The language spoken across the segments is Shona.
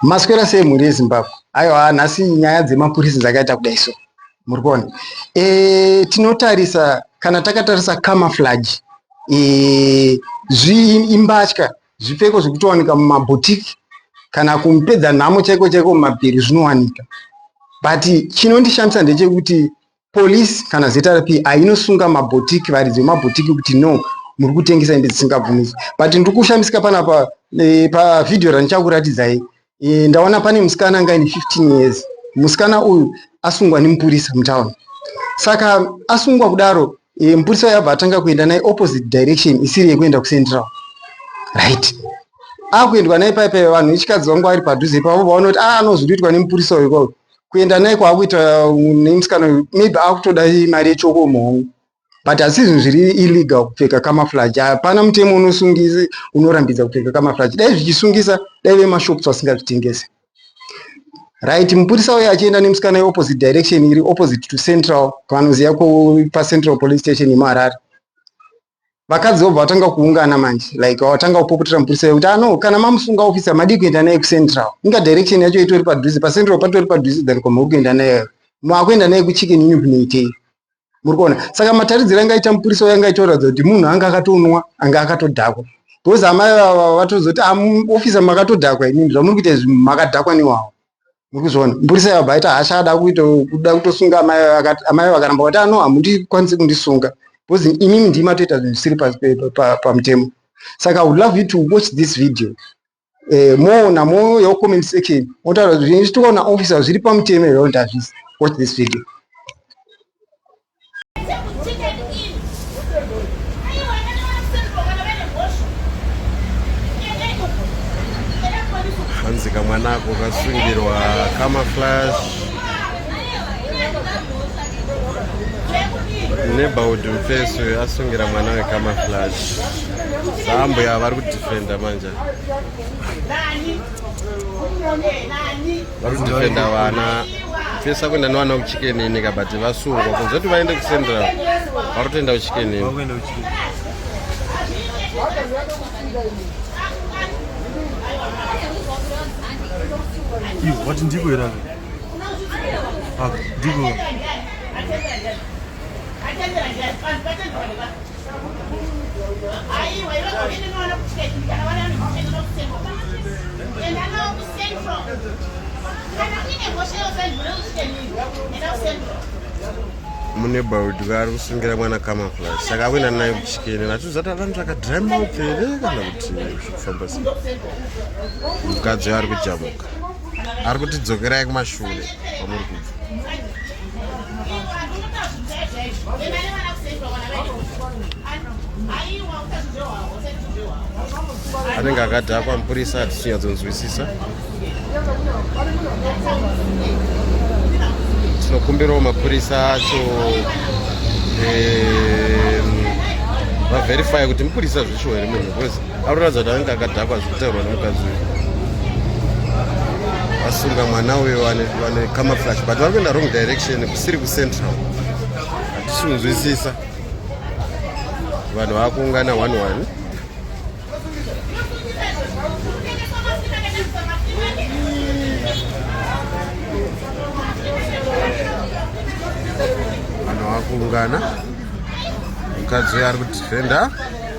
maswera sei mhuri yezimbabwe aiwa nhasi nyaya dzemapurisa dzakaita kudai so muri kuona e, tinotarisa kana takatarisa camouflage e, zviimbatya Zvipfeko zvekutowanika mumabhotiki kana kumupedza nhamo chaiko chaiko mumapiri zvinowanika but chinondishamisa ndechekuti police kana zrp hainosunga mabhotiki varidzi vemabhotiki kuti no muri kutengesa hembe dzisingabvumidzwe but ndiri kushamisika panapa eh, pavhidhiyo randichakuratidzai e, ndaona pane musikana anga ine 15 years musikana uyu asungwa nemupurisa mutown saka asungwa kudaro e, mupurisa uyu abva atanga kuenda naye opposite direction isiri yekuenda kucentral right akuendwa naye pai pai vanhu vechikadzi vangu vari padhuze ipavo vaona kuti ah, anozviriitwa nemupurisa uyu kwavo kuenda naye kwaakuita uh, nemusikana uyu maybe akutoda mari yechoko muhongo but asi zvinhu zviri illegal kupfeka kamaflaji hapana mutemo unosungisi unorambidza kupfeka kamaflaji dai zvichisungisa dai vemashops vasingazvitengese right mupurisa uye achienda nemusikana yeopposite direction iri opposite to central vanoziva pacentral police station yemuharare vakadzi vobva vatanga kuungana manje like vatanga kupopotera mupurisa yekuti ano ah, kana mamusunga ofisa madii kuenda naye kucentral inga direction yacho itori padhuze pacentral patori padhuze than kwamuri kuenda naye maakuenda naye kuchicken unyu kunoitei muri kuona saka mataridziro anga aita mupurisa uyo anga aitoratidza kuti munhu anga akatonwa anga akatodhakwa because amai vava vatozoti ah, ofisa makatodhakwa inini zvamuri kuita izvi makadhakwa newawo muri kuzviona mupurisa yabva aita hasha ada kuita kuda kutosunga amai amai vakaramba vati ano ah, hamundikwanisi kundisunga because inini ndimatoita zvinhu zvisiri pamutemo saka i would love you to watch this video eh, moona mo your comment section motaura kuti zvine zvitoona officer zviri pamutemo here kuti hazvisi watch this video hanzi kamwana ako kasungirwa kamaflash neighborhood mfeso asungira mwana wekamaflash saambuya vari kudefenda manje vari kudefenda vana pesa kuenda nevana kuchikenini ka but vasungwa kuzoti vaende kucentral vari kutoenda kuchikenini vati ndiko here ndiko mune baudwa ari kusungira mwana kama plus saka akuenda naye kuchikene natuzati avanhu zvakadrima upfere kana kuti zvekufamba sei mukadzi uyo ari kujamuka ari kutidzokerai kumashure kwamuri kubva anenge akadhakwa mupurisa hatisinyadzonzwisisa tinokumbirawo mapurisa acho vaverify kuti mupurisa zvichiwo here munhu Arikuratidza kuti anenge akadhakwa zvekutaurwa nemukadzi uyu. Asunga mwana uyo vane vane camouflage but vari kuenda wrong direction kusiri kucentral. Hatisi kunzwisisa. Vanhu vakuungana one one. Vanhu vakuungana. Mukadzi uyo ari kudefender.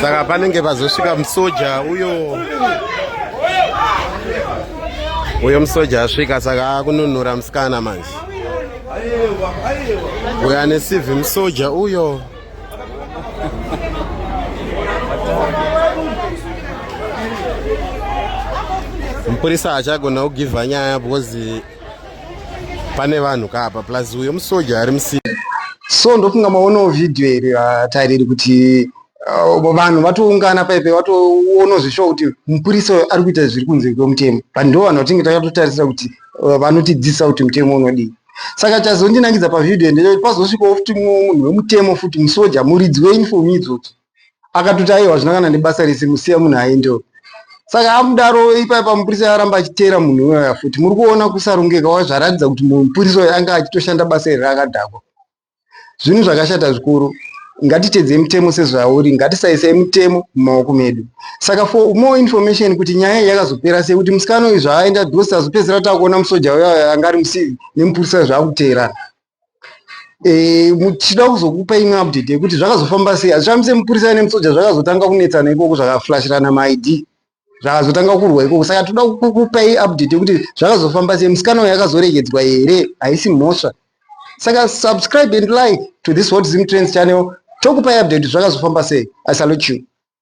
saka panenge pazosvika musoja uyo uyo musoja asvika saka akununura musikana manje uyo ane civhi musoja uyo mupurisa haachagona kugivha nyaya because pane vanhu kaapa plus uyo musoja ari musi so ndofunga maonawo vhidhiyo iri vatariri kuti uh, vanhu vatoungana paipe vatoonawo zveshuwa kuti mupurisa uyo ari kuita zviri kunze kwemutemo but ndo vanhu vatinge takatotarisira kuti uh, vanotidzidzisa kuti mutemo unodii Saka chazondinakidza pavideo ndechekuti pazosvikawo futi munhu wemutemo futi musoja muridzi weuniform idzodzo akatoti aiwa hazvina kana nebasa rese musiya munhu aendewo saka amudaro ipaipa mupurisa aramba achiteera munhu iwaya futi muri kuona kusarongeka wazvaratidza kuti mupurisa uyo anga achitoshanda basa iri rakadhakwa Zvinhu zvakashata zvikuru. Ngatitedzei mutemo sezvauri, ngatisaisei mutemo mumaoko medu. Saka for more information kuti nyaya iyi yakazopera sei, kuti musikana uyu zvaaenda because tazopedzisira takuona musoja uya anga ari musivi nemupurisa zvaakuteerana. Eh, tichida kuzokupa imwe update yekuti zvakazofamba sei. Hazvifambise mupurisa nemusoja zvakazotanga kunetsana ikoko zvakaflashirana maID. zvakazotanga kurwa ikoko saka toda kukupai update yekuti zvakazofamba sei musikana uyo akazoregedzwa here haisi mhosva saka subscribe and like to this hot zim trends channel tokupai update zvakazofamba sei i salute you